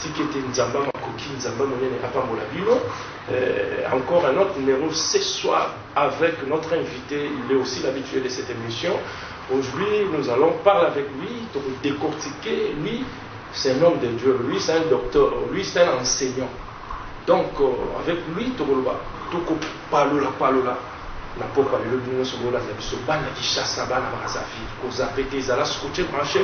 Tika ete Nzambe ya makoki, Nzambe ya monene apambola bino. Euh, encore un autre numéro ce soir avec notre invité. Il est aussi l'habitué de cette émission. Aujourd'hui, nous allons parler avec lui, donc décortiquer. Lui, c'est un homme de Dieu. Lui, c'est un docteur. Lui, c'est un enseignant. Donc, euh, avec lui, Tokoloba, Toko Palola, Palola. na poko alelo bino nyonso bolanda biso bana kishasa bana bakazafi kozape te ezala scotche branche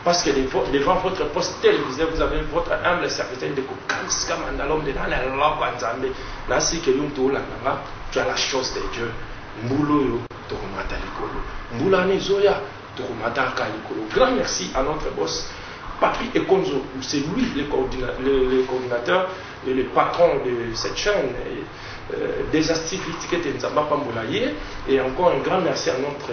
Parce que devant votre poste télévisé, vous avez votre humble serviteur de Kokanska Mandalom de Nana Loba Nzambe. Nasi que nous tout l'ananga, tu as la chose de Dieu. Mbulo yo, tokomata likolo. Mbula ne zoya, tokomata ka likolo. Grand merci à notre boss. Papi Ekonzo, c'est lui le, coordina le, le coordinateur et le patron de cette chaîne. Et, euh, des activités que Nzamba Pambolaye. Et encore un grand merci à notre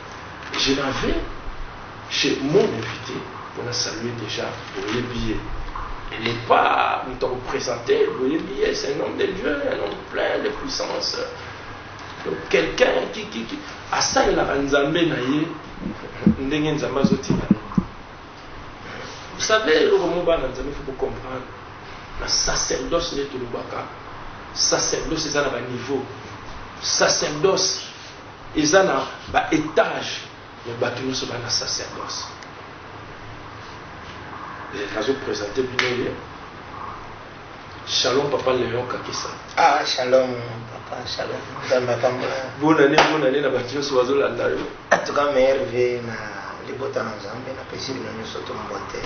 je l'avais chez mon invite pour la saluer déjà boyebi ye elle n'est pas moto ya kopresente boyebi ye c'est un homme de dieu un homme plein de puissance donc quelqu'un qui, qui, qui asalelaka nzambe na ye ndenge nzambe azotinda vous savez eloko mo bana nzambe faut bocomprendre na sacerdoce nde tolobaka sacerdoce eza na baniveau sacerdoce Eza na ba etage mais batu nioso ba na sacerdoce. Eh, nazo presenter bino ye. Shalom papa Leon Kakisa. Ah shalom papa shalom. Nzambe apambola. Bonne année bonne année na batu nioso bazo landa yo. En tout cas meilleur vie na libota na Nzambe na pesi bino nioso to mbote.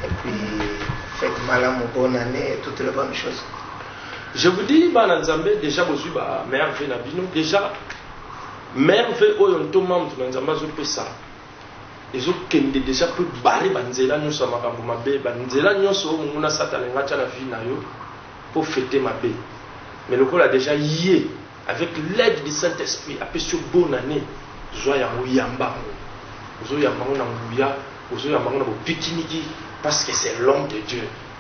Et puis faites malamu bonne année et toutes les bonnes choses. Je vous dis bana nzambe deja bozui ba mère vie na bino deja mère vie oyo ntoma moto na nzambe azopesa ezokende deja mpe bare banzela nyonso ya makambo mabe banzela nyonso oyo monguna sata alinga atya na vie na yo mpo fete mabe mais lokola deja ye avec l'aide du saint esprit apesi yo bonne année zwa yango yamba yango ozoyamba yango na nguya ozoyamba yango na bopikiniki parce que c'est l'homme de dieu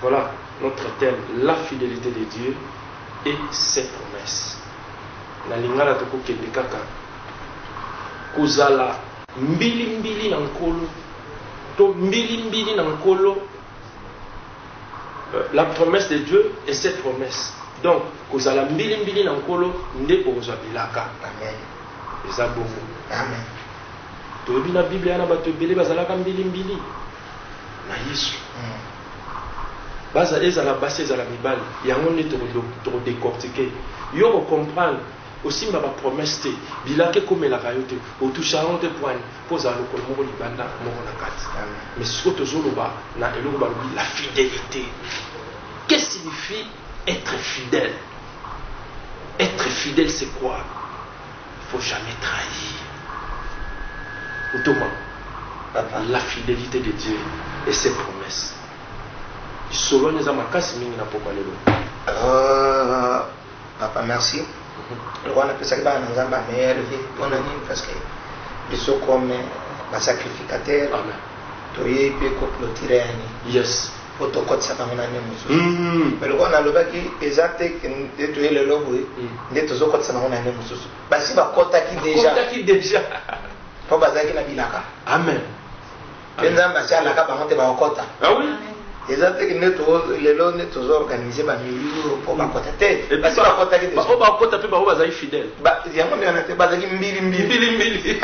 Voilà notre thème, la fidelite de Dieu et ses promesses. Na lingala tokokende kaka kozala mbilimbili na nkolo to mbilimbili na nkolo euh, la promesse de Dieu et ses promesses. Donc kozala mbilimbili na nkolo nde okozwa bilaka. Amen. Eza bongo. Amen. Toyebi na Biblia na bato ebele bazalaka mbilimbili. na Yesu. Baza ezala basi ezala mibali yango nde toko decortiquer yo ko comprendre osimba ba promesse te bilaka ekomelaka yo te otushaka yango te pwani po ozala lokolo moko libanda moko na kati mais sikoyo tozoloba na eloko balobi la fidelite que signifie être fidèle être fidèle c'est quoi Il faut jamais trahir ntoma papa la fidelite de Dieu et ses promesses lisolo wana eza makasi mingi na pokwa lelo euh, papa merci lokola napesaki bana na nzambe ya meilleure vie mpona nini parce que biso comme basacrificateur toyei mpe koplotire yani yes po tokotisaka yango na ndenge mosusu mm-hmm. me lokola nalobaki eza te nde toye lelo boye mm. nde tozokotisa bango na ndenge mosusu basi bakotaki deja po bazalaki na bilaka amen mpe nzambe asi alaka bango te bakokɔta ah eza te nde lelo nde tozoorganize bamilio mpo bakɔta te basi bakɔtaki te bakɔta mpe bango bazali fidèle Ba, yango nde wana te bazalaki mbilimbili mbilimbili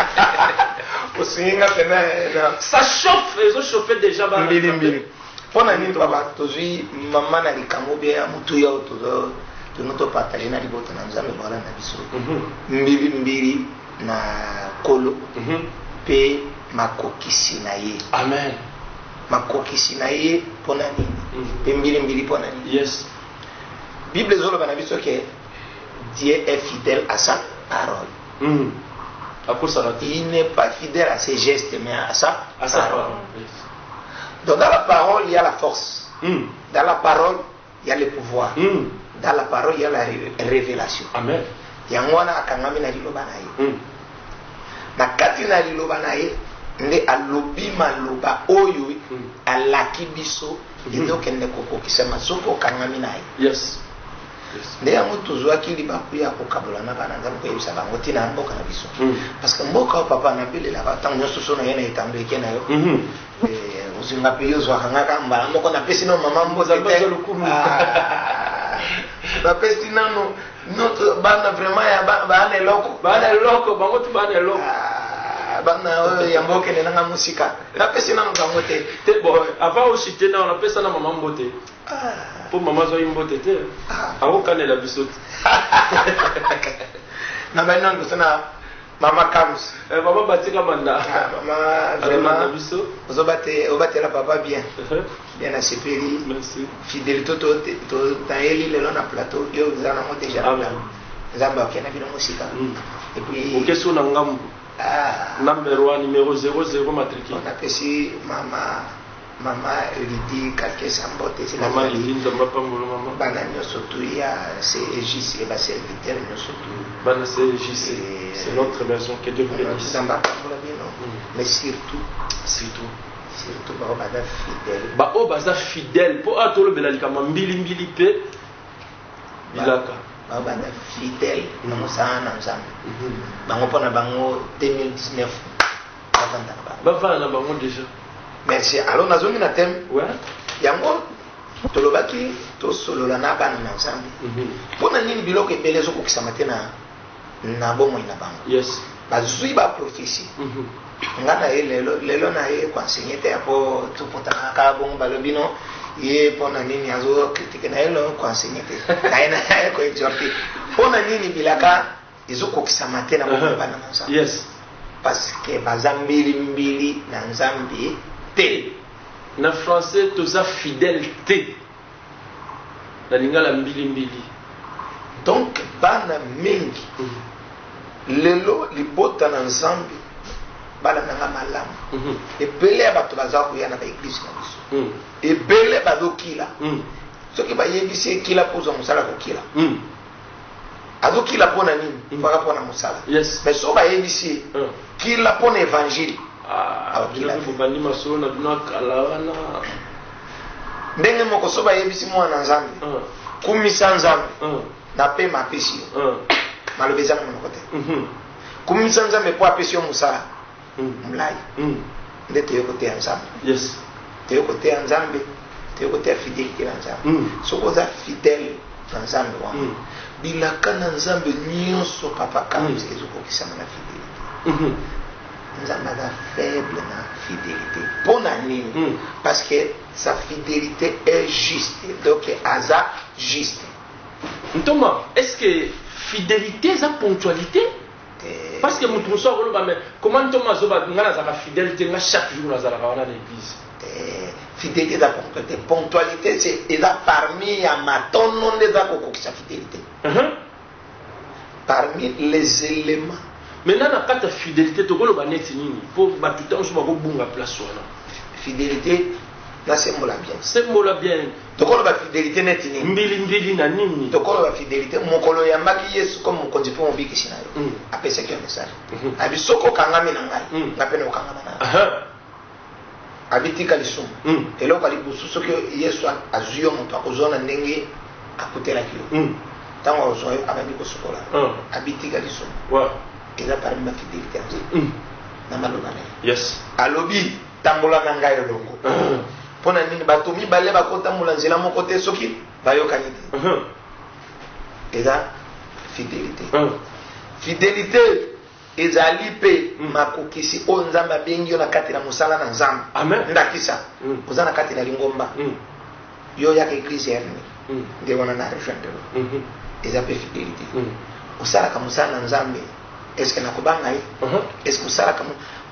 osungi nga pena na ça chauffe ezo chauffe déjà bana mbilimbili mpo na nini baba tozwi mama na likambo bie ya motuya oyo tozo tono topartage na libota na nzambe bawala na biso mbilimbili mhm. na kolo mpe mhm. makokisi na ye amen makokisi na ye mpo na nini mpe mhm. mbilimbili mpo na nini yes bible ezoloba na biso ke Dieu est fidèle à sa parole. Mm. Il n'est pas fidèle à ses gestes, mais à sa, à sa parole. Donc dans la parole, il y a la force. Mm. Dans la parole, il y a le pouvoir. Mm. Dans la parole, il y a la révélation. Amen. yango wana akangami na liloba na ye mm. na kati na liloba na ye nde alobi maloba oyo mm. alaki biso mm. ezokende kokokisama soki okangami na ye yes. nde yango tozwaki libaku ya kokabola na bana nzambe koyebisa bango ntina ya mboka na biso mm. parce que mboka oyo papa nabelelaka ntango nyonso so naye na etando eke na yo mhm. eh, ozinga mpe yo ozwaka nga ka mbala moko napesi no mama mbozalukumu ah. napesi nano bana vraiment ya bana eloko bana eloko bango tu bana eloko ah. bana oyo ya mboka enenanga mosika napesi nano bango te te bo avant osite nao napesa na mama mbote po mama azwaki mbote te akokanela biso te na bani nano bosa na mama kams eh, mama batika manda ah, mama vraiment biso ozobate obatela papa bien uh-huh. bien nasepeli fidelité totayeli lelo na plateau yo oza nango déjà nzambe akei na bino mosika mm. epuis okesio na ngambo ah. number 1 numero 00 matricule napesi mama Mama Lidi Kakesa mbote zila Mama zila Lidi Nzambe apambola mama. Bana nyoso tu ya CEJC et ba serviteurs nyoso tu. Bana CEJC c'est notre maison que Dieu vous benisse. Nzambe apambola bino mais surtout surtout surtout ba bana fidèle. Ba o baza fidèle po a tolobela likama mbili mbili pe bilaka. Ba bana fidèle na mosala na Nzambe. Bango pona bango 2019 bavanda na bango bavanda na bango deja merci alors nazongi na thème ouais. yango tolobaki tosolola na bana na nzambe mhm. mpo na nini biloko ebele ezokokisama te na na bomoi na bango yes. bazwi baprofesi mm -hmm. nga na ye lelo, lelo na ye koensegne te yapo topotaka kaka bongo balobi no ye mpo na nini azokritike na ye lo koensegne te na ye na ye koexorte mpo na nini bilaka Ezokokisama te na bomoi bana na Nzambe. Yes. Parce que baza mbili mbili na Nzambe te. Na français toza fidèle te. Na lingala mbili mbili. Donc bana mingi mm-hmm. lelo libota na Nzambe bana nanga malamu mm-hmm. ebele ya bato baza koya na baeglise na biso mm. ebele bazokila mm. soki bayebisi ekila kozwa mosala kokila mm. azo kila mpo na nini mm. mpaka mpo na mosala yes. mais so bayebisi ye mm. kila mpo na évangile ah, bobandi masolo na bino akala wana ndenge moko so bayebisi mwana na nzambe mm. kumisa nzambe mm. na mpe mapesi yo mm. maloba eza na monoko te mm -hmm. kumisa nzambe mpo apesi yo mosala mulayi nde toye koteya nzambe yes toye koteya nzambe toye koteya fidelite na nzambe mm. soki oza fidèle na nzambe wana mm. bilaka na nzambe nyonso papa kambi mm. ezokokisama na fidelite mm -hmm. nzambe aza faible na fidelite mpo na nini mm. parce que sa fidelite est juste donc aza juste ntoma est ce que fidelite eza ponctualité Parce que mutu mususu akoloba mais comment ntoma zoba nga nazalaka fidèle te nga chaque jour nazalaka wana na église. Eh, fidélité eza concrète ponctualité c'est eza parmi ya matono nde eza kokokisa fidélité. Uh -huh. Parmi les éléments. Maintenant na kata fidélité tokoloba neti nini po batu tango so bakobunga place wana. Fidélité na sembola bien sembola bien tokolo ba fidelite neti nini mbili mbili na nini tokolo ba fidelite mokolo oyambaki yesu comme mokonzi mpe mobikisi na yo mm. apesaki yo message mm-hmm. abi soki okangami na ngai mm. nga mpe na okangama na ngai abi tika lisumu mm. eloko alibusu soki yesu azwi yo moto akozwa na ndenge akutelaki yo ntango akozwa yo abandi kosukola abi tika lisumu eza parmi ba fidelite na maloba na ye alobi Tambola na ngai elongo. Mpo na nini bato mibale bakotambola nzela moko te soki bayokani te? Eza fidelite. Fidelite ezali mpe mm. makokisi oyo nzambe abengi yo na kati na mosala na nzambe ndakisa mm. oza na kati na lingomba mm. yo oyaka eglise ya nini mm. nde wana na rejoindre mm-hmm. eza mpe fidelité mm. osalaka mosala na nzambe eske nakobanga ye uh-huh. eske osalaka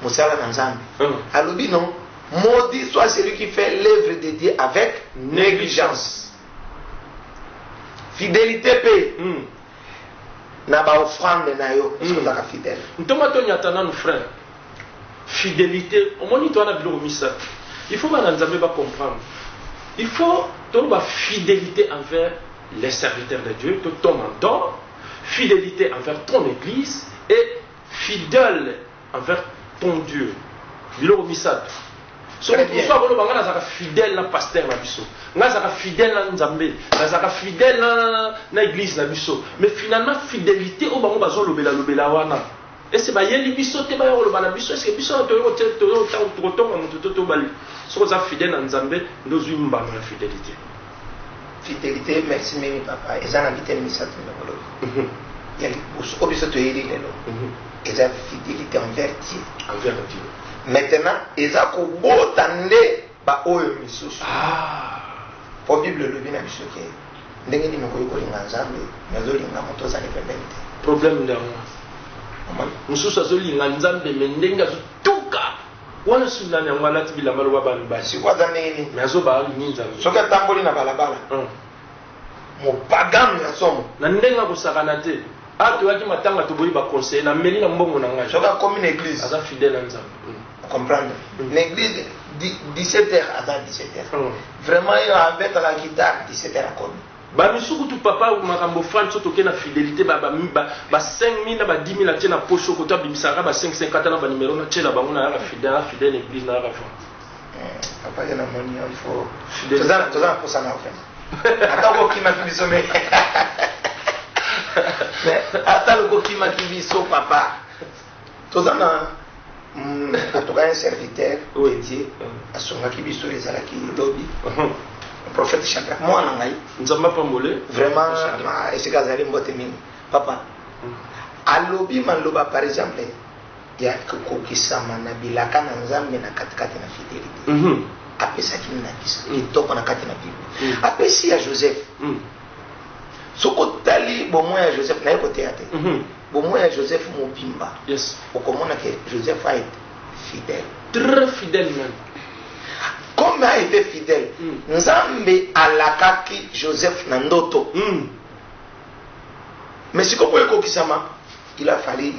mosala na nzambe mm. alobi non maudit soit celui qui fait l'œuvre de dieu avec négligence fidélité mpe mm. na ba offrande na yo parce que ozaka fidèle ntoma to nyata nanu frein fidélité omoni to wana biloko misato il faut bana nzambe ba comprendre il faut toloba fidélité envers les serviteurs de Dieu to toma don fidélité envers ton église et fidèle envers ton Dieu biloko misatu soki biso akoloba ngai nazalaka fidèle na pasteur na biso ngai azalaka fidèle na nzambe nazalaka fidèle na, na église na biso mais finalement fidélité oyo bango bazolobela lobela wana ese bayeli biso te baya koloba na biso ese biso toyokotonga moto to tobali soki oza fidèle na nzambe nde ozwi mbano ya fidélité fidelite merci mingi papa eza na biteni misato ndenge olobi ya liboso oyo biso toyebi lelo eza fidelite envers dieu envers dieu maintenant eza kobota nde baoyo misusu mpo ah. bible elobi na biso te ndenge nini okoki kolinga nzambe nazolinga moto ozali pembeni te problème nde yango mosusu azolinga nzambe me ndenge azotuka Wana Sudan yango alati bilamba loba ba mibali. Siko aza ndenge nini? Mais azo ba nini nzambe? Soki atamboli na balabala. Hum. Mopagano ya somo. Na ndenge akosakana te. Ah toyaki matanga toboyi ba conseil na meli na mbongo na ngai. Soki akomi na église. Aza fidèle na nzambe. Hum. Comprendre? Hum. Na église 17h aza 17h. Hum. Vraiment yo abetaka guitare 17h akomi. Ba misusu kutu papa makambo franc soki toke na fidelite ba ba ba 5000 na ba 10000 atie na poche okoto abimisaka kaka ba 5 5 kata na ba numero na tiela bango na yaka fidèle na fidèle eglise na yaka franc papa ye na moni il faut fidèle toza toza na posa na vraiment ata ko kima ki biso mais ata ko kima ki biso papa toza na mm, en tout cas un serviteur oui. dédié mm. asungaki biso ezalaki lobi uh-huh. prophète chaka mwana ngai nzambe apambole vraiment esika azali mbote mingi papa mm. alobi maloba par exemple ya kokokisama na bilaka na nzambe na katikati na fidelité mm-hmm. apesaki ndakisa mm. kitoko na kati na bible mm. apesi ya joseph mm. soki otali bomoi ya joseph naye koteya te mm-hmm. Bomoi ya Joseph mobimba. Yes. Okomona que Joseph a été fidèle. Très fidèle même. Comme a été fidèle, mm. Nzambe alakaki Joseph na ndoto. Mm. Mais sikoyo mpo ekokisama, il a fallu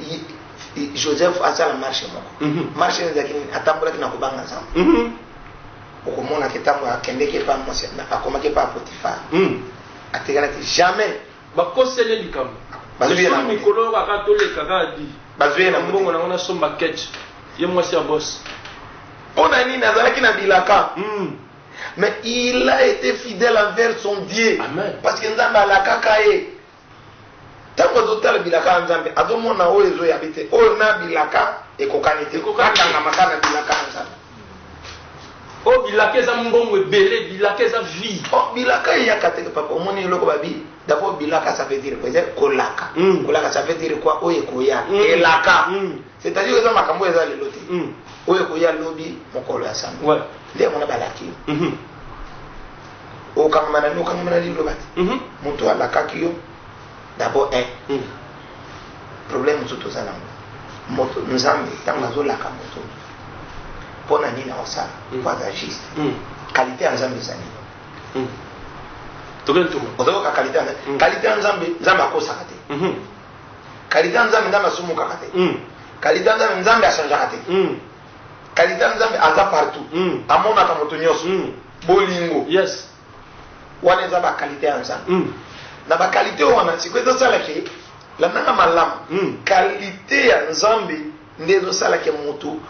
Joseph asala marche moko. Mm -hmm. Marche ezalaki nini? Atambolaki na kobanga Nzambe. Mm -hmm. Okomona ke ntango akendeki epa mwasi akomaki epa Potifar. Mm. Atikalaki jamais bakosele likambo Bazwi ye na Soni moke. mikolo oyo kaka toleka kaka di Bazwi ye na moke. mbongo nango nasomba ketch ye mwasi ya bos mpo na nini azalaki na bilaka Mm. mais il a été fidèle envers son dieu Amen. parce que nzambe alakaka ye ntango azotala bilaka ya nzambe azomona oyo ezoyabi te oyo na bilaka ekokani te Ekokani te. akangama kaka na bilaka ya nzambe Oh bilaka eza mbongo ebele, bilaka eza vie. Oh bilaka eyaka te papa, omoni eloko babi. D'abord bilaka ça veut dire quoi? Kolaka. Mm. Kolaka ça veut dire quoi? Oyo ekoya. Mm. Elaka. Mm. C'est-à-dire eza makambo eza lelo te. Mm. Oyo ekoya lobi mokolo ya sango. Ouais. Nde yango na balaki. Mhm. Mm okangama na nokangama na liloba te. Mhm. Mm Moto alakaki yo d'abord un hmm. problème mosusu toza nango moto nzambe ntango azolaka moto mpo na nini aosala hmm. mpo aza juste hmm. qualité ya nzambe eza nini ozokoka qualité ya nzambe qualité ya nzambe nzambe akosaka te qualité ya nzambe nzambe asumukaka te qualité ya nzambe nzambe achangeaka te qualité ya nzambe aza partout amonaka moto nyonso bolingo yes wana eza bakalite ya nzambe mm. na bakalite wana sikoyo ezosala ke landaka malamu mm. kalite ya nzambe nde ezosala ke motu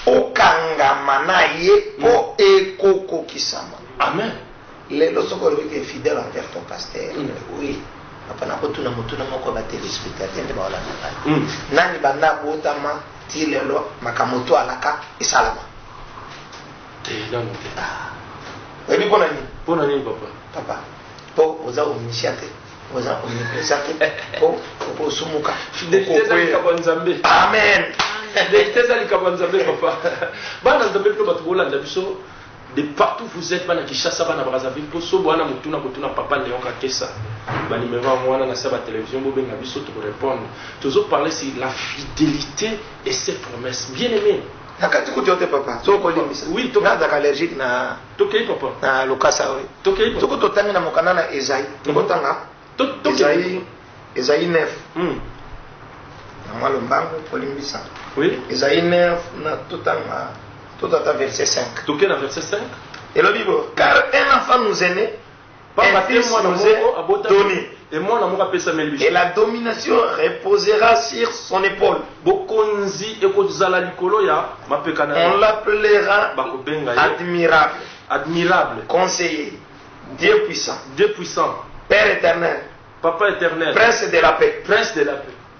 okangama na ye mpo mm. ekokokisama amen lelo soki olobi ke fidèle envers ton pasteur mm. oui apana kotuna motuna moko batelespectateur nde baolanda ngai mm. nani banda abotama ti lelo makambo to alaka esalama te nanu te ah. oyebi mpo na nini mpo na nini papa papa mpo oza omisia te oza omipesa te mpo okosumuka fideliteezalikambo ya nzambe amen fidelite eza likambo ya nzambe papa bana nzambe bino bato bolanda biso de partout vous êtes bana kishasa bana brazzaville mpo sobo wana motuna kotuna papa leon kakesa banimero yango wana na se ya batelevizio bobenga biso tokorepondre tozoparle si la fidelité et ses promesses bien aimé Na kati kutu yo te papa. Soki ko limbisa. Oui, to. Nga azaka allergique na. To kei papa. Na lokasa oyo. To kei papa. Soki to tangi na mokanda na Esaïe. Mm. To ko tanga. To to. Esaïe Esaïe 9. Mm. Na mwa lombango ko limbisa. Oui. Esaïe 9 na to tanga. To tata verset 5. To kei na verset 5. Elobi bo car un enfant nous est né. Pamba te mwana moko abotami, e mwana moko apesameli biso. Et la domination reposera sur son epaule. Bokonzi ekozala likolo ya mapeka na ye. On l'appellera bakobenga ye admirable. Admirable. Conseiller. Dieu puissant. Dieu puissant. Père éternel. Papa éternel. Prince de la paix. Prince de la paix.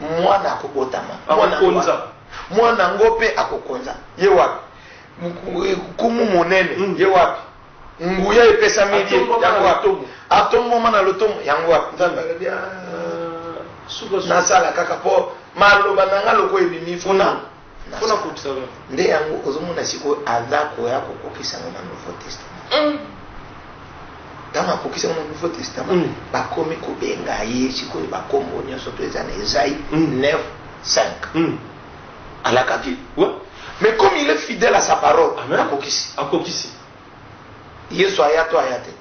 Mwana akobotama, Akokonza. Mwana yango mpe akokonza. Ye wapi? Nkumu monene, mm. ye wapi? Nguya epesameli ye, yango wapi? Atombwama na lotomo, yango wapi? Nzambe alobi ah, nasala kaka mpo maloba na ngai lokola ebimi fona nde yango ozomona sikoyo aza koya kokokisa yango na nouveau testament mm. ntango akokisi yango na nouveau testament mm. bakomi kobenga ye sikoyo bakombo nyonso to eza na ezai 9 5 alakaki mais comme il est fidèle à sa parole akokisi akokisi yesu aya to aya te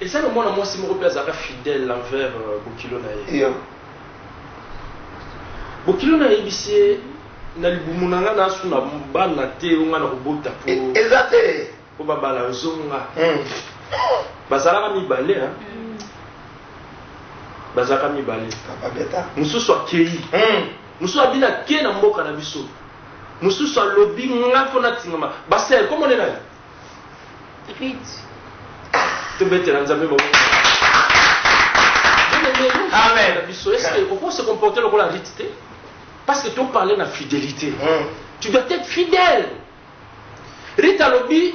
Eza na mwana mwasi moko pe azalaka fidèle envers bokilo na ye. Yeah. Bokilo na yebisi ye na libumu na nga na suna bana te yo nga na kobota po. E, eza te. Po ba bala zonga. Mm. Bazalaka mibale hein. Mm. Bazalaka mibale. Papa beta. Mususu akeyi. Mm. Mususu abina ke na mboka na biso. Mususu alobi nga fo na tingama. Basel, comment on est là? Rite. Tobetela Nzambe maboko. Amen. Est-ce que vous pouvez se comporter comme la rite Parce que tu parles de fidélité. Mm. Tu dois être fidèle. Rita Lobi,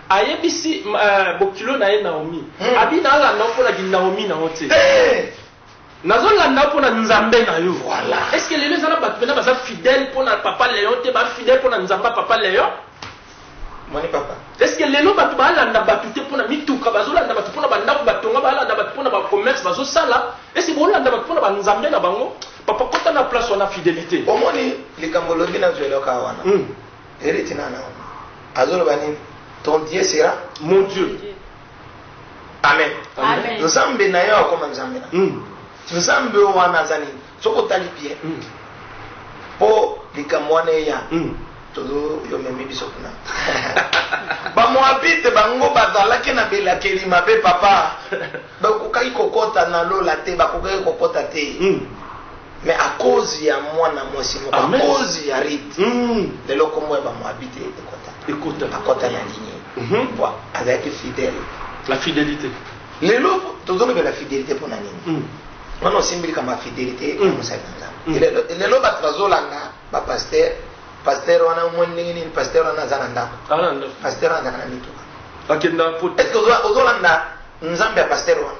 ayebisi euh, bokilo na ye Naomi. Mm. Abi na la na mpo na Naomi na ote. Hey! Eh! Nazo landa yo pona nzambe na yo. Voilà. Est ce que lelo eza na batu pena baza fidèle pona papa Leon te ba fidèle pona nzambe ya papa Leon? Omoni papa? Est ce que lelo batu ba landa batu te pona mituka bazo landa batu pona ba ndaku ba tonga ba landa batu pona ba commerce bazo sala? Est ce que bo landa batu pona ba nzambe na bango? Papa kota na place wana fidelite. Omoni likambo lobi na zwelo ka wana. Mm. Eritina na. Azo loba nini? Ton Dieu sera mon Dieu. amen nzambe na yo akoma nzambe na hmm. nzambe oyo wana aza nini soki otali bien hmm. mpo likambo wana eya hmm. toyomemi biso kuna bamoabite bango bazalaki na belakeli mabe papa bakokaki kokɔta na lola te bakokaki kokɔta te Mais à cause ya mwana mwasi moko, à cause ya Ruth, mm. lelo kombo ya bamoabite ekota ekota akota na nini mhm. po azalaki fidèle la fidélité lelo tozolobela fidélité mpo na nini mm. wana osimbili kama fidélité ya mm. mosali na nzambe lelo bato bazolanda bapaster paster wana omoni ndenge nini paster wana aza na ndako paster wana azaka na mituka est ce que ozolanda nzambe ya paster wana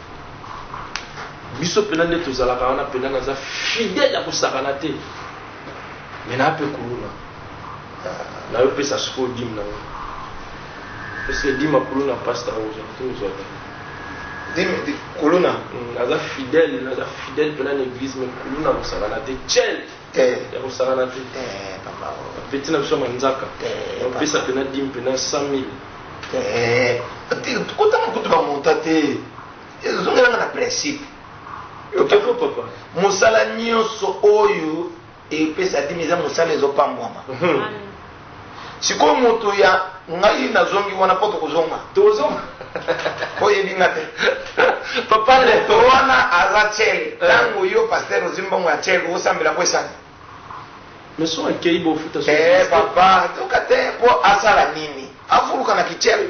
biso mpena nde tozalaka wana mpena naza fidele ya kosakana te me naa mpe kuluna nayo pesa sikoyo dime nango eske dime akuluna pasta ozozwaka dime kuluna mm, naza fidele naza fidele mpena na eglise me kuluna kosakana te cel Eh. ya kosangana te eh, beti na biso manzaka eh, opesa mpena di mpena 100 mille kotanga kutu bamonta te ezongelanga na principe okeko papa mosala nyonso oyo epesa dimi eza mosala ezopambwama mhm. Sikoyo moto ya ngai nazongi wana po tokozonga. Tokozonga. Oyebi nga te. Papa le. Moto wana aza cel. Eh. Tango yo pasteur ozwi mbongo ya cel osambela po esani. Mais son akei bo futa son. Eh papa, toka te po asala nini? Afuluka na kicel.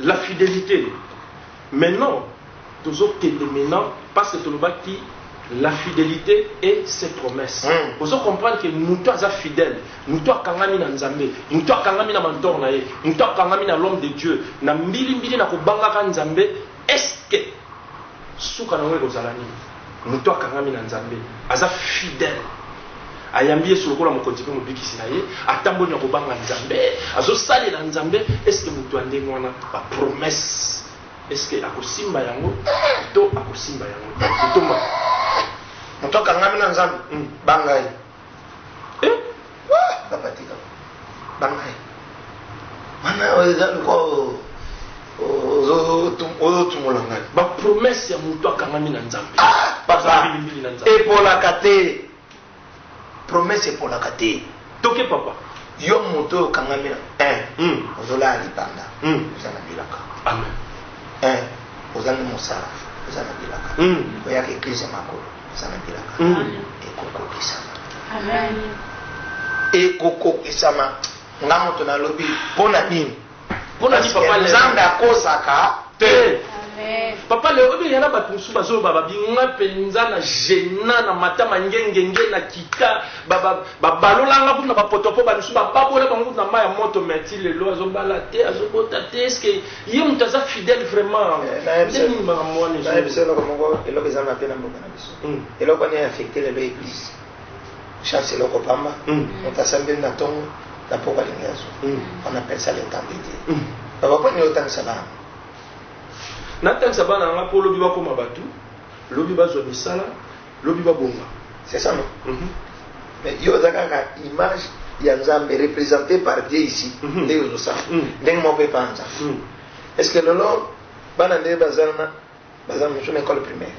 La fidelite mais non tozo kende maintenant parce que tolobaki la fidelite et ses promesses mm. ozo comprendre que moto aza fidèle moto akangami na nzambe moto akangami na mentor na ye moto akangami na l'homme de dieu na mbilimbili na kobangaka nzambe est ce que suka nango ekozala nini? Moto akangami na Nzambe aza fidèle, ayambi Yesu lokola Mokonzi mpe Mobikisi na ye, atamboli na kobanga Nzambe, azosalela Nzambe. Est ce que moto ya ndenge wana ba promesses est ce que akosimba yango to akosimba yango te? Totomba. Moto akangami na Nzambe, banga ye. eh? papa tika bangai wana eza lokola ozotumola ngai bapromese ya moto akangami na nzambe ah, papa epolaka te promese epolaka te toke papa yo moto oyo okangami na un hmm. ozolala libanda hmm. oza na bilaka amen un ozangi mosala oza na bilaka hmm. oyaka eklise ya makolo Salabelaka ekokokisama. Ekokokisama. Nga moto nalobi mpo na nini? Mpo na nini papa Nzambe akosaka te. Papa lelo obi yana bato mosusu bazoloba babinga mpenza na gena na matama ngengenge na kita babalolanga kuna bapotopo bamisu bababola bango na mai ya moto meti lelo azobala te azobota te eske Ye mutu aza fidèle vraiment. Eh, nayebisa nini makambo wana ezo. Nayebisa eloko moko eloko eza mabe na mboka na biso. Mm. Eloko wana affecté lelo église. Chance eloko pamba. Mm. Mutu asambeli na tongo na poko alingi azwa. Mm. On appelle ça le temps de Dieu. Mm. Baba mpo nini otangisa bana? Natangisa bana nga mpo lobi bakoma bato, lobi bazwa misala, lobi ba bonga c'est ça non mm -hmm. mais yo oza kaka image ya nzambe represente par dieu ici mhm. ndenge ozosala mhm. ndenge moko epanza mhm. est ce que lelo bana nde bazana baza mosusu na école primaire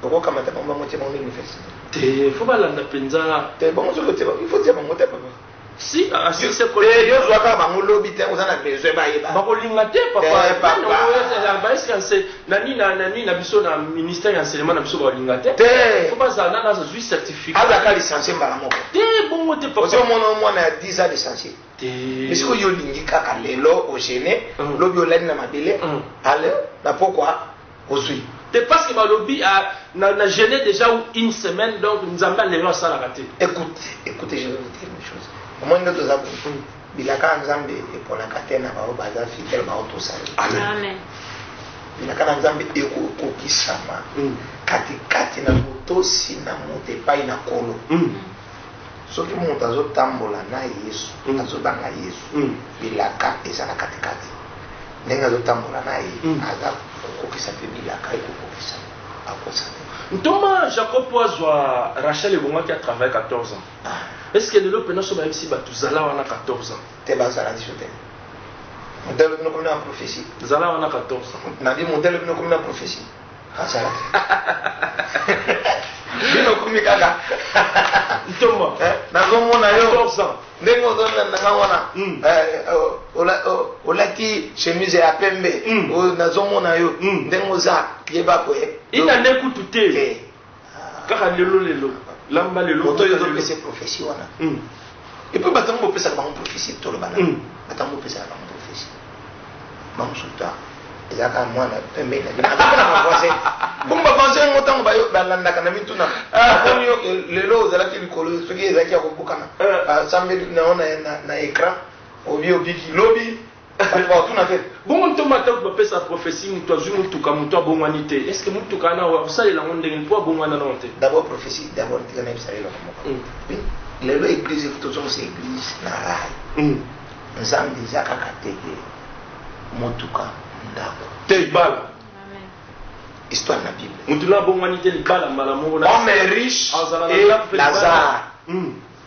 okokamata bango bango tie bango na université te fo balanda mpenza te bango soki otie il faut tie bango te papa Si a si se ko. Eh yo zwa ka bango lobi te oza na besoin ba yeba. Ba ko linga te papa. Eh papa. Ba esi na se na ni na na ni na biso na ministère ya enseignement na biso ba linga te. Te. Faut ba za na na za zui certificat. Aza ka licencier mbala moko. Te bongo te papa. Ozo mona mwana ya 10 ans licencier. Te. Mais siko yo lingi kaka lelo o gêner mm. lobi olani na mabele. Mm. Alors na pourquoi Ozui. Te pasque balobi na jeune deja une semaine donc nzambe ya lelo asalaka te. Ecoute, ecoute je vais vous dire une chose. Omoni nde toza boye. Bilaka nzambe eponaka te na baoyo baza fidèle baoyo tosali. Amen. Bilaka na nzambe ekokokisama katikati na motosi na moto epai na kolo. soki moto azotambola na yesu mm. azoba na yesu mm. bilaka eza na katikati ndenge azotambola na ye mm. aza kokokisa mpe bilaka ye kokokisa akosa te ntoma jacob po azwa rachel ebongaki a travaille 14 ans ah. est ce que lelo mpena so bayebisi bato zala wana 14 ans te bazala biso te modele bino komi na prophétie zala wana 14 ans nabi modele bino komi na prophétie azalaki bino okomi kaka ntoma eh, nazomona yo ndenge ozolanda nanga wana hmm. eh, eh, olati chemise ya pembe hmm. nazomona yo hmm. ndenge oza yeba koye ina nde kutu te kaka lelo lelo lamba lelo moto oyo ezopesa prophetie wana hmm. epuis bato yango bopesaka bango prophetie tolobana hmm. bato yango bopesaka bango prophetie bango suta eza kaka mwana pembe na bino akomi na bavancin bongo bavancin yango ntango balandaka na mituna akomi yo lelo ozalaki likolo soki ezalaki ya kobukana basambeli na yo na écran obi obiki lobi Balingaka kotuna te. Bongo ntoma atako bapesa prophetie mutu azui mutuka mutu abongwani te est ce que mutuka wana okosalela yango ndenge nini po abongwana nano te. D'abord prophetie d'abord tika nayebisa yo eloko moko lelo eglise il faut tozongisa eglise na rail nzambe eza kaka te ke motuka ndako te libala histoire na bible mutu na abongwani te libala mbala moko homme riche et lazare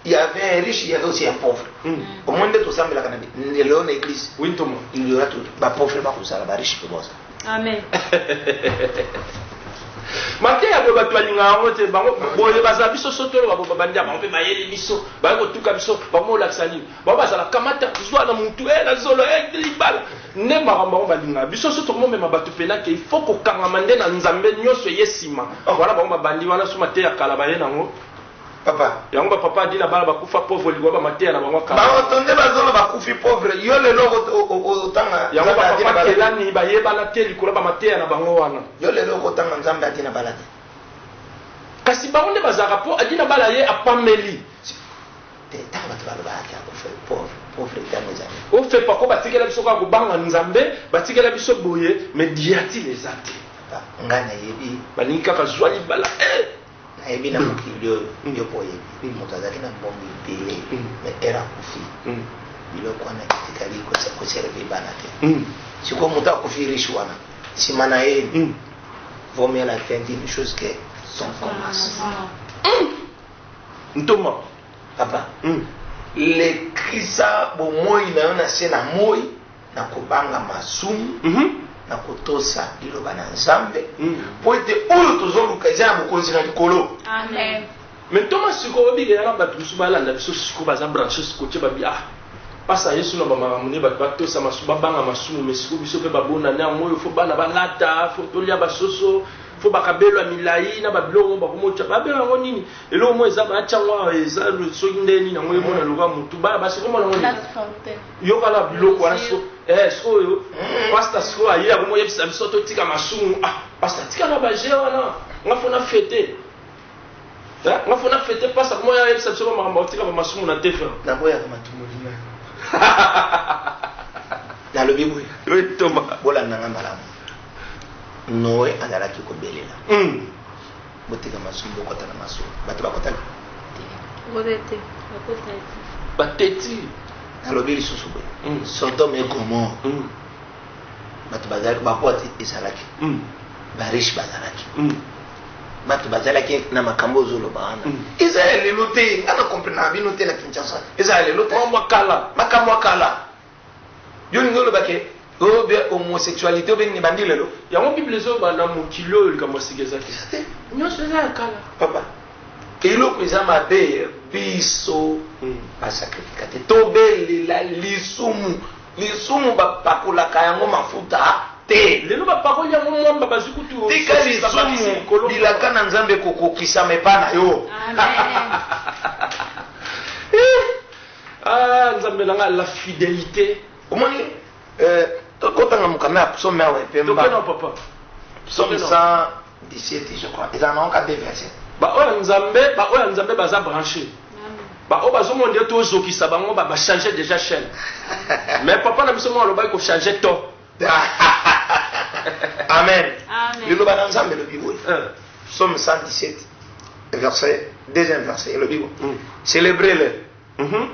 il y avait un riche, il y avait aussi un pauvre. Mm. Au moins, tout ça, mais la canne, l'éléon église. Oui, tout le Il y aura tout. Bah, pauvre, bah, comme ça, là, bah, riche, c'est bon, ça. Amen. mateya boye bato balinga yango te bango boye bazala biso sotolo babo babandi ya bango mpe bayeli biso baye kotuka biso bango olakisa nini bango bazala kamata zwa na motu e na zolo e libala nde makambo bango balinga biso so tokomomema bato mpena ke ifo kokangama nde na nzambe nyonso eye nsima wana bango babandi wana so mateya kala baye nango papa yango ba papa adi na bana bakufa pauvre liwa ba mateya na bango akala bango to nde bazolo bakufi pauvre yo lelo otanga yango ba papa kelani bayebana te likolo ba mateya na bango wana yo lelo okotanga nzambe adi na bala te kasi bango nde bazalaka mpo adi na bala ye apameli te ntango bato balobaki akufa pauvre ofepa ko batikela biso kaka kobanga nzambe batikela biso boye mediatile eza te nga nayebi balingi kaka zwa libala eh! Nayebi na mokili oyo yo pe oyebi moto azalaki na mbongo ebele mais heure akufi biloko wana etikali ko servir bana te sikoyo moto akufi riche wana nsima na ye vaut mieux la fin d'une chose que son commence ntoma papa lekisa bomoi na yo na se na moi na kobanga masumu, na kotosa Liloba na Nzambe, mpo ete oyo tozoluka eza na Bokonzi na Likolo. Amen. Mais ntoma siko obike yaka bato mosusu balanda biso siko baza branche siko ce babi ah pasa yesu na bamakambo nde bato batosa masu babanga masumu me siko biso mpe babonani yango oyo fo bana balata fo tolia basoso fo bakabelo ya milai na babiloko yango bakomotya babelo yango nini eloko moko eza batya yango awa eza soki nde nini yango emona lokola motu bana basi komona yango nini Yoka na biloko wana siko eh sikoyo pasta sikoyo aye akomi oyebisa biso totika masumu ah pasta tika na ba jeu wana nga fo na fete eh nga fo na fete pasta akomi oyebisa biso ba makambo tika ba masumu na tefe na boya ka matumoli na na lobi boye oui toma bolanda nga malamu Noé azalaki kobelela mm. Botika masolo bokota na masolo. Bato bakotaki. Ngobe te, bakotaki. Bateti. Nalobi lisusu boye. Mm. Sodome et Gomorre. Mm. Bato bazalaki bakwati ezalaki. Mm. Ba riche bazalaki. Mm. bato bazalaki na makambo ozoloba wana mm. eza ya lelo te nga na comprena bino te na kinshasa eza ya lelo te makambo ya kala Yo olingi oloba ke oyo be homosexualite oyo be nini ebandi lelo? Yango bible ezoba na mokili oyo likambo ya sika eza te. Eza te. Nyonso eza ya kala. Papa, eloko eza mabe biso hmm. ba sacrifica te. Tobelela lisumu. Lisumu bapakolaka yango mafuta te. Lelo bapakoli yango mwamba bazwi kutu. Tika lisumu bilaka na Nzambe kokokisama epa na yo. Amen. Ah nzambe na nga la fidelite. Omoni euh kotanga mukanda ya psaume awa epemba. Tokena papa. Psaume 117 je crois. Eza na onka deux versets. Ba oyo nzambe, ba oyo nzambe baza branché. Ba oyo bazomona ndio tozokisa bango ba ba changer déjà chaîne. Mais papa na biso mwa alobaki ko changer to. amen liloba na nzambe elobi boye eh. somme 117 verset deuxième verset elobi boye hmm. célébrez le mhm.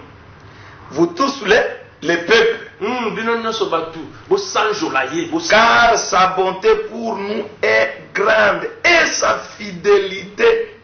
vous tous les, les peuples hmm, bino nyonso bato bosanjola ye car sa bonté pour nous est grande et sa fidélité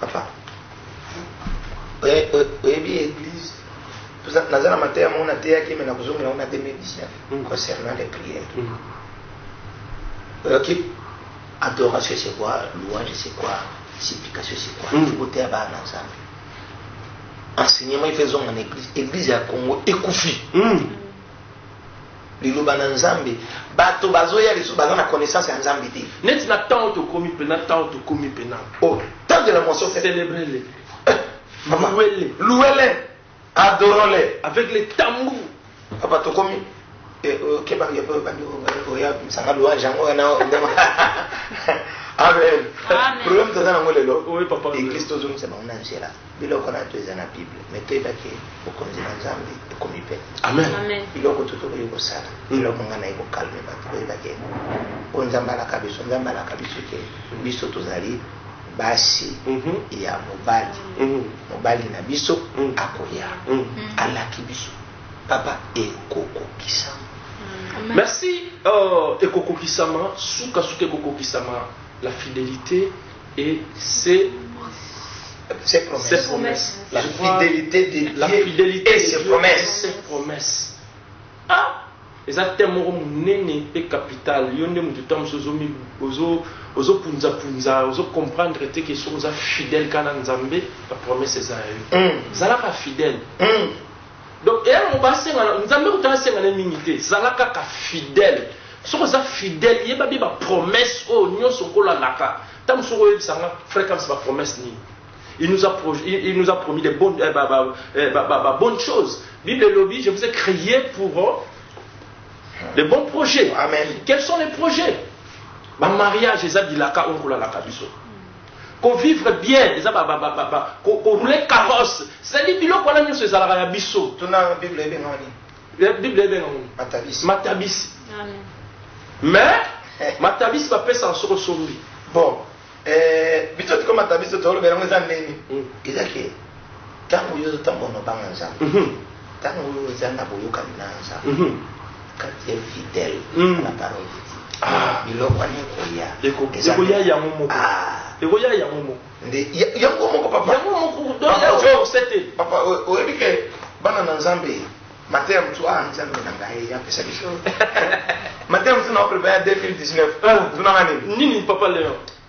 Papa, oyebi eglise, naza na mateya moko nateyaki me na kozongela ngo na 2019 mm. concernant les prières. Mm. Oyoki adoration c'est quoi, louange c'est quoi, supplication c'est quoi, mm. koteya bana nzambe. Enseignement ifezonga na eglise, eglise ya Congo ekufi. Liloba na Nzambe. Bato bazoya lisusu baza na connaissance ya Nzambe te. Neti na temps tokomi pena, temps tokomi pena. Oh, temps de la moisson fait. Célébrer le. Maman, louer le. Louer le. Adorons le. Avec les tambours. Papa tokomi. Eh, oh, keba ya papa bandi oya oh, oh, sanga louange yango na ndema. Amen. Amen. Problème toza nango lelo. Oui papa. Église tozongisa bango na nzela. Biloko na to eza na Bible, mais toyeba ke bokonzi na Nzambe ekomi pe. Amen. Amen. Biloko to tokoki kosala, biloko nga naye kokalme bato koyeba ke oyo Nzambe alaka biso, Nzambe alaka biso ke biso tozali basi ya mobali mobali na biso akoya alaki biso papa ekokokisama merci oh, ekokokisama sukasuka ekokokisama la fidelite Et c'est ses promesses. Ses promesses. La Je crois, fidélité de Dieu la fidélité et de ses Dieu promesses. et ses promesses. Ah eza thème moko monene mpe capital yo nde moto ntango mosusu ozomi ozo ozopunzapunza ozocomprendre te ke soki oza fidèle kaka na nzambe bapromese eza ya yo Mm. zalaka fidèle Mm. Donc eya nango ba senga na nzambe kutu a senga naye mingi te zala kaka fidèle soki oza fidèle yeba bien ba promesse oyo nionso nkolo alaka ta mosusu oko yebisa nga frère Kamsi ba promesse nini il nous a pro, il, il nous a promis des bonnes eh, ba, ba, eh, ba, ba, ba bonnes choses bible elobi je vous ai créé pour euh, les bons projets amen quels sont les projets ba mariage eza bilaka oyo nkolo alaka biso ko vivre bien eza ba ba ba ba ko ko rouler carrosse c'est à dire biloko wana nionso ezalaka ya biso tuna bible ebenga nini eh, bible ebenga nini matabisi matabisi amen mais matabisi ba pesa soko sombi bon eh biso tiko matabisi to lobela ngo eza nini hmm. eza ke tango yo zo tango no banga nzambe mhm. Tango oza na boyokani na Nzambe, quand tu es fidèle à la parole de Dieu, ah. biloko wana ekoya. Ekoya yango moko. Ah. Ekoya yango moko. Nde yango moko papa. Yango moko donc ya oyo osete. Papa oyebi ke bana na Nzambe mateya mosusu ah Nzambe na ngai apesa biso. Mateya mosusu na oprepare ya 2019. Tuna nini? Nini papa Leon?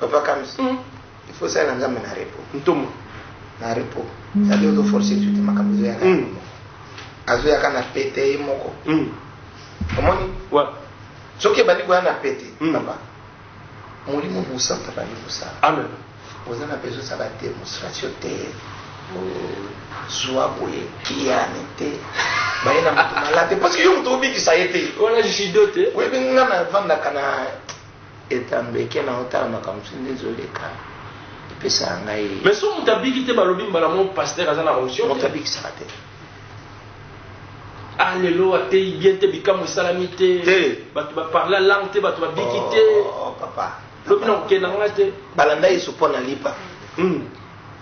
Papa Kams, mm. il faut ça na nzambe na repos. Ntoma. Na repos. Mm. Sadi ozo forcer tu te makambo ezo yaka mm. moko. Azo yaka na pete ye moko. Mm. Omoni? Ouais. Soki ebandi koya na pete, mm. papa. Molimo mosanto abandi kosala. Amen. Oza na besoin sa ba demonstration te. Zwa boye kiyane te. Baye na moto malade. Parce que yo moto obikisa ye te. Wana jisido te. Oyebi nga na vandaka na Eta mbeke na otala makambo sindi nzoleka epesaka ngai mais so moto abiki te balobi mbala mo pasteur aza na onction moto abikisaka te ah lelo ateyi bien te bikamwa esalami te bato baparla langue te bato babiki te oh, oh, papa lobi na kokenda nga te balanda yesu mpo na lipa hmm.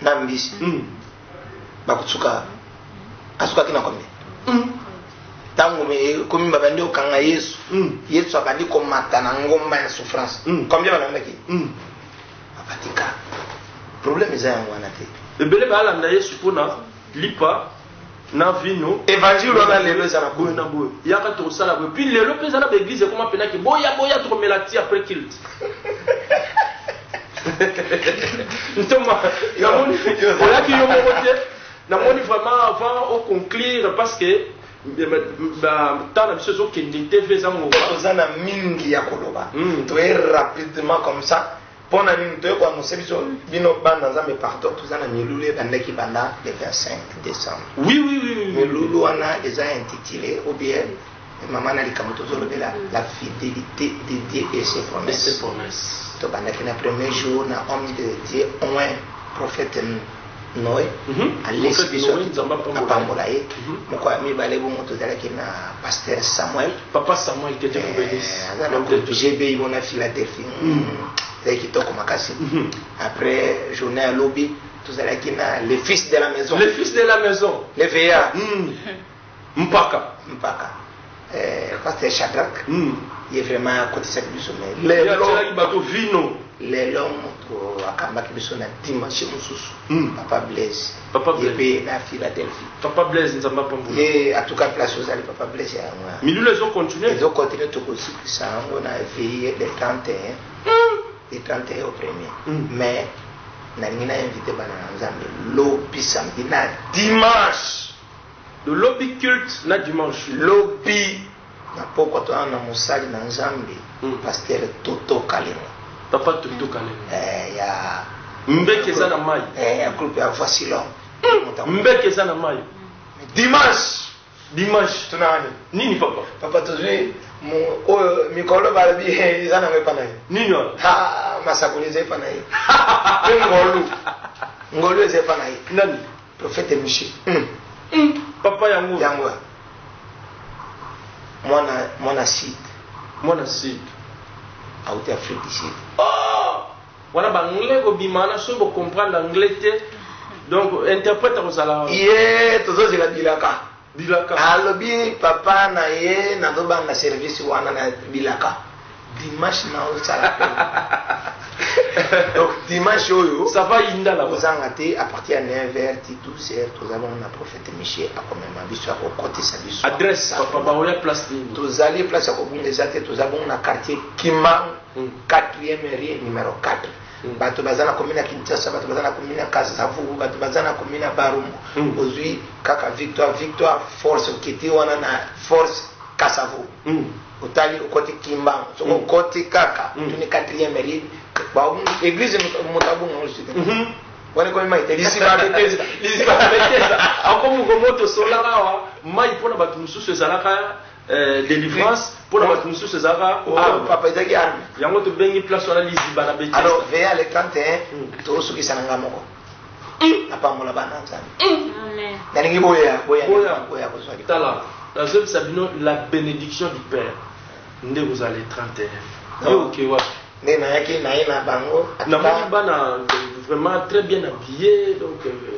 na mbisi hmm. bakosuka asukaki na kombe ntango hmm. ekomi eh, babandi kokanga yesu hmm. yesu abandi komata na ngomba ya souffrance hmm. combien balandaki abatika problème eza yango wana te ebele baalanda yesu mpona lipa na vino évangile wana lelo eza na boye na boye yaka tokosala boye puis lelo mpe eza na baeglize ekoma mpenaki boya boya tokomela ti après kilte ntoma namoni olaki yo moko te namoni vraiment avant au conclure parce que ntango na biso ezokende te mpe eza motoza na mingi ya koloba hmm. toye rapidement comme ça mpo na nini toye koanonse biso bino bana nzambe partout toza na milulu ebandaki banda le 25 décembre oui oui oui milulu wana eza intitulé ou bien Maman na likambo tozolobela la fidelité de Dieu et ses promesses. Tobandaki na premier jour na homme de Dieu oin prophète Noé mhm. alesi biso apambola ye mhm. moko ya mibale bongo tozalaki na pasteur Samuel papa Samuel qui était eh, aza na groupe GBI mona Philadelphie mhm. ezalaki kitoko makasi après journée ya lobi tozalaki na le fils de la maison le fils de la maison le veillard Mpaka. Mpaka. Eh, pasteur Shadrach. Mm. Ye vraiment akotisaki biso mais lelo. Atyelaki bato vino. Lelo moto akambaki biso na dimanche mosusu. Mm. Papa Blaise. Papa Blaise. Ye mpe na Philadelphie. Papa Blaise nzambe apambola. Ye en tout cas place ozali Papa Blaise ya yango. Milulu ezo continuer. Ezo continuer tokosikisa yango na veille de 31. Mm. De 31 au premier. Mm. Mais nalingi na invite bana na Nzambe lobi samedi na dimanche. Do lobi culte na dimanche. Lobi na pokwa toza na mosali na nzambe pasteur toto kalenga. Papa toto kalenga. Eh ya. Mbeki eza na mayi. Eh ya groupe ya voici l'homme. Mbeki eza na mayi. Dimanche. Dimanche. Tuna nani? Nini papa? Papa tozui oyo mikolo balobi eza nango epa na ye. Nini wana? Ha masakoli eza epa na ye. Pe ngolu. Ngolu eza epa na ye. Nani? Prophète Michel. Hum. Hum. Papa yango. Yango. Mwana mwana site. Mwana site. Auti Afrique du Sud. Oh! Wana ba anglais ko bimana so bo comprendre anglais te. Donc interprète ko sala. Yeah, tozo zela bilaka. bilaka. Alobi papa na ye nazo banga service wana na bilaka dimanche na osala pe donc dimanche oyo ça va inda la ozanga te à partir ya 9h ti 12h toza bango na prophète michel akomema biso akokotisa biso adresse papa baoya place nini tozali place ya kobunda eza te toza bongo na quartier kimang 4e rue numéro 4 bato baza na commune ya kinshasa bato baza na commune ya kasavubu bato baza na commune ya barumu mm. ozwi kaka victoire victoire force okiti wana na force kasavubu mm. otali okoti kimbangu soki mm. okoti kaka mm. tuni quatrième elide église moto abunga ozwi mhm. wana ekomi mai te liziba beteza liziba beteza akomi komoto solaka awa mai mpo na bato mosusu ezalaka Eh, délivrance pour la batu mosusu ezalaka oh, ah, papa ezalaki arme yango tobengi place wana liziba na beti alors veya le 31 hmm. tosukisa na nga moko hmm. napambola bana nzambe hmm. nalingi boya boya kozwa tala nazobisa bino la bénédiction du père nde kozala le 31 yo oke wapi nde nayaki naye na bango namoni bana vraiment très bien habillé donc euh,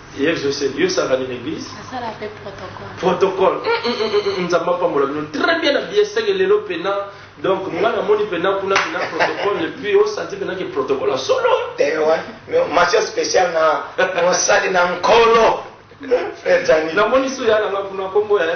Yesu se yo saka ni l'église. Asala pe protocole. Protocole. Nzambe apambola bino. Très bien na bien seke lelo pena. Donc nga na moni pena kuna pena protocole et puis au santi pena ke protocole solo. Eh ouais. Masio spécial na mosali na nkolo. Frère Dani. Na moni su ya na kuna kombo ya.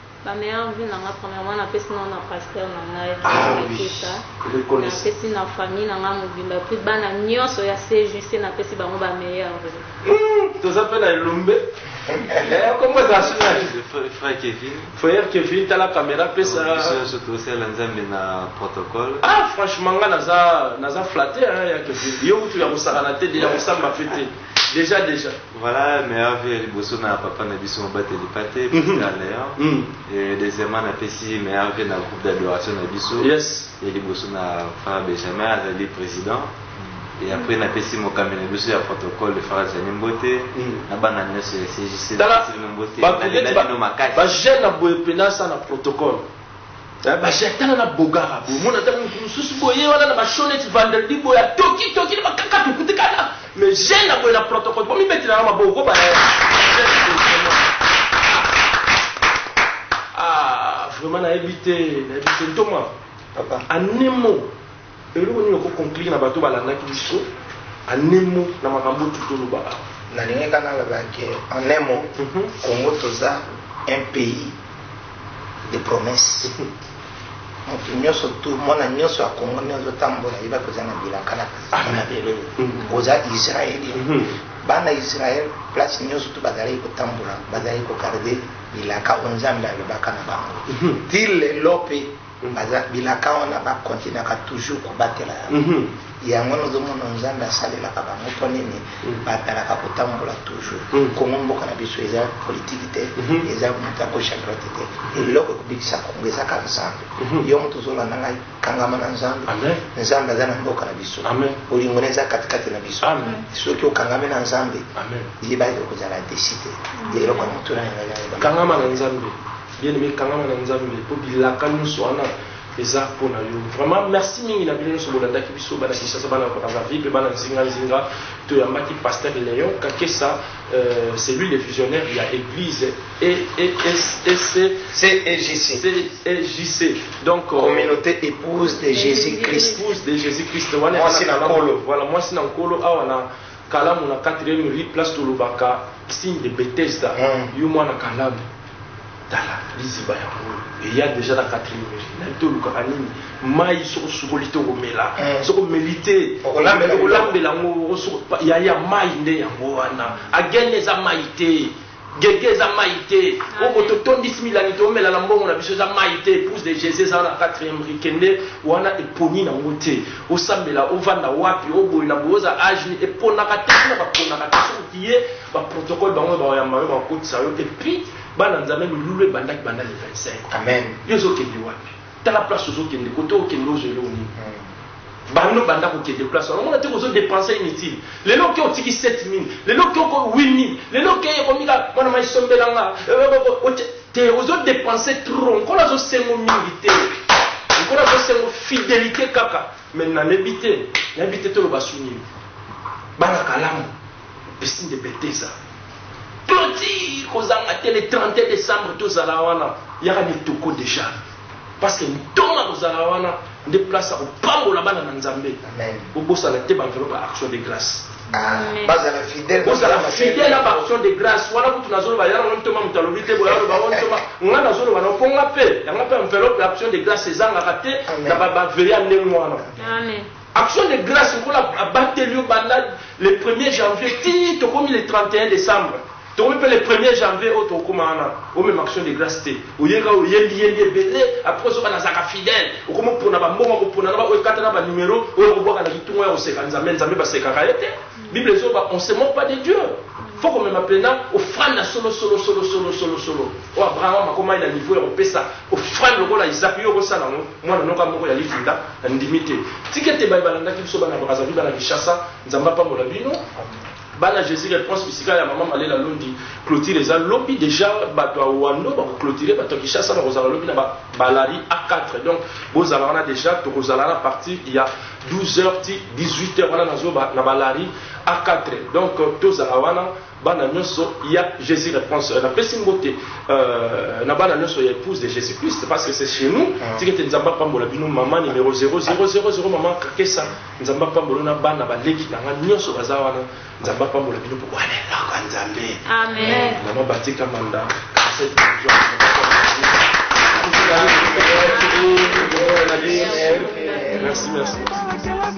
Ba meilleurs vues na nga premièrement na pesi na na pasteur na ngai ah, Leketa oui. na pesi na famille na nga mobimba puis bana nyonso ya CJC na pesi bango ba meilleurs vues hmm, toza pe na elombe eh, kombo eza frère Kevin frère Kevin tala caméra pesa biso tosala nzambe na protocole ah franchement nga naza naza flatté hein ya Kevin yo kutu ya kosakana te ya kosamba pe te déjà déjà Voilà meilleur vie ya liboso na papa na biso mobateli pate Mhm. Pasteur Leon Mm. et deuxièmement napesi meilleur vie na groupe d'adoration na biso Yes. ya liboso na frère Benjamin azali président et après napesi mokambi na biso ya protocole le frère Zani Mbote Mm. na bana nyonso ya CJC tala napesi bino mbote bato neti nalela bino makasi bajeune na boye mpenza asa na protocole Eh, basi atala na bogara boye mona ntango motu mosusu boye wana na bashoneti vendredi boye atoki toki na bakakatu kutikana mais jeune na boye na protocole bomibetela na maboko kobana ah, vraiment nayebi te nayebi te ntoma anemo Eloko nini oko conclure na bato balandaki biso en un mot na makambo oyo toloba awa? Nalingi kaka naloba que en un mot, mhm. Congo toza un pays de promesse. Mhm. moto nyonso tu mwana nyonso ya kongo nde azotambola yeba koza na bilaka na mabele mm-hmm. oza israeli mm-hmm. bana israel place nyonso tu bazalaki kotambola bazalaki kogarde bilaka oyo nzambe alobaka na bango mm-hmm. ti lelo mpe Baza bilaka wana ba continuaka toujours kobatela yango. Yango wana ozomona Nzambe asalelaka bango mpo nini? Batalaka kotambola toujours. Congo mboka na biso eza politique te, eza moto ya gauche à droite te. Eloko ekobikisa Congo eza kaka Nzambe. Yo moto ozolanda ngai, kangama na Nzambe. Nzambe aza na mboka na biso. Bolingo na ye eza katikati na biso. Soki okangami na Nzambe, libala ekozala desi te. Eloko ya motuna na ngai eza yango. Kangama na Nzambe. Bien aime kangama na nzambe po bilaka nionso wana eza pona yo vraiment merci mingi na bino nionso bolandaki biso bana Kinshasa bana Brazzaville pe bana nzinga nzinga toyambaki pasteur Leon Kakesa euh, c'est lui le visionnaire ya église et et et c'est CEJC CEJC donc euh, communauté épouse de Jésus-Christ épouse de Jésus-Christ wana moi c'est na kolo voilà moi c'est na kolo awa na kalamu na quatrième rue place tolobaka signe de Bethesda mm. yo mwana kalamu tala liziba ya ngolo eya deja na quatrième rue nayebi te olukaka nini mai soko sukoli te okomela mm. soko omeli te okolambela yango yaya mai nde yango wana agene eza mai te Guegue eza mayi te oko to tondis milangi to mela na mbongo na biso eza mayi te epouse de Jesus eza wana na quatrième rue kende wana eponi na ngo te osambela ovanda wapi o boye na boye oza age nini eponaka te kuna ba ponaka te soki okiye ba protocole bango nde bako yamba yo bako kotisa yo et puis bana nzambe milulu ebandaki banda le 25 amen yo ezo kende wapi tala place ozo kende kote okende ozo yo nini bando banda kokende place wana omona te kozo depense inutile lelo oke otiki 7000 lelo oke oko 8000 lelo oke ekomi kaka mwana mai sombela nga te ozo depense trop nkolo azo sengo mingi te nkolo azo sengo fidelite kaka mais nayebi te nayebi te toloba su nini bana kalamu Epesi nde beteza. Cloture kozanga te le 31 decembre tozala wana yaka ne toko dejà parceque ntoma kozala wana nde place ya kopambola bana na nzambe bobosana te banvelo ba action de grace bazala fidèle bozala fidèle na baaction de grâce wana kutu nazoloba yala ngo ntoma moto alobi te boya aloba ngo ntoma nga nazoloba na mpo nga mpe yanga mpe enveloppe ya action de grâce ezangaka te na baveye ya ndenge wana Action de grace lokola abateli yo banda le premier janvier ti tokomi le 31 decembre tokomi pe le premier janvier oyo tokokoma wana omema action de grace te oye kaka oyembi yembi ebele apres ozoka nazalaka fidèle okomi opona ba mbongo ya kopona na ba oyo ekata na ba numero oyo okobwaka na kitunga oyo ya koseka nzambe nzambe basekaka ye te Bible ezoba on se moque pas de Dieu faut komema mpenza ofrande ya solosolosolosolosolosolo oyo abraham akomaki na niveau ya kopesa ofrande lokola isaac yo okosala yango mwana noka moko ya lifinda na ndimi te tika ete baye balandaki biso bana brazavi bana kinshasa nzambe apambola bino bana jésus reponse bisika ya mama malela londi clotire eza lobi déjà bato ya wando bakoclotire bato ya kinshasa bakozala lobi na balari a 4 donc bozala wana déjà tokozala na parti ya 12 heures ti 18 heures wana nazo ba, na balari a 4 donc euh, tozala wana bana nyonso ya Jésus réponse euh, napesi mbote euh, na bana nyonso ya épouse de Jésus Christ parce que c'est chez nous ah. tikete nzambe apambola bino mama numéro 0000 mama kakesa nzambe apambola na bana baleki na nga nyonso baza wana Nzambe apambola bino po wana eloko ya Nzambe. Amen. Mama Batika Manda, Cassette Bonjour. Merci, merci. Merci.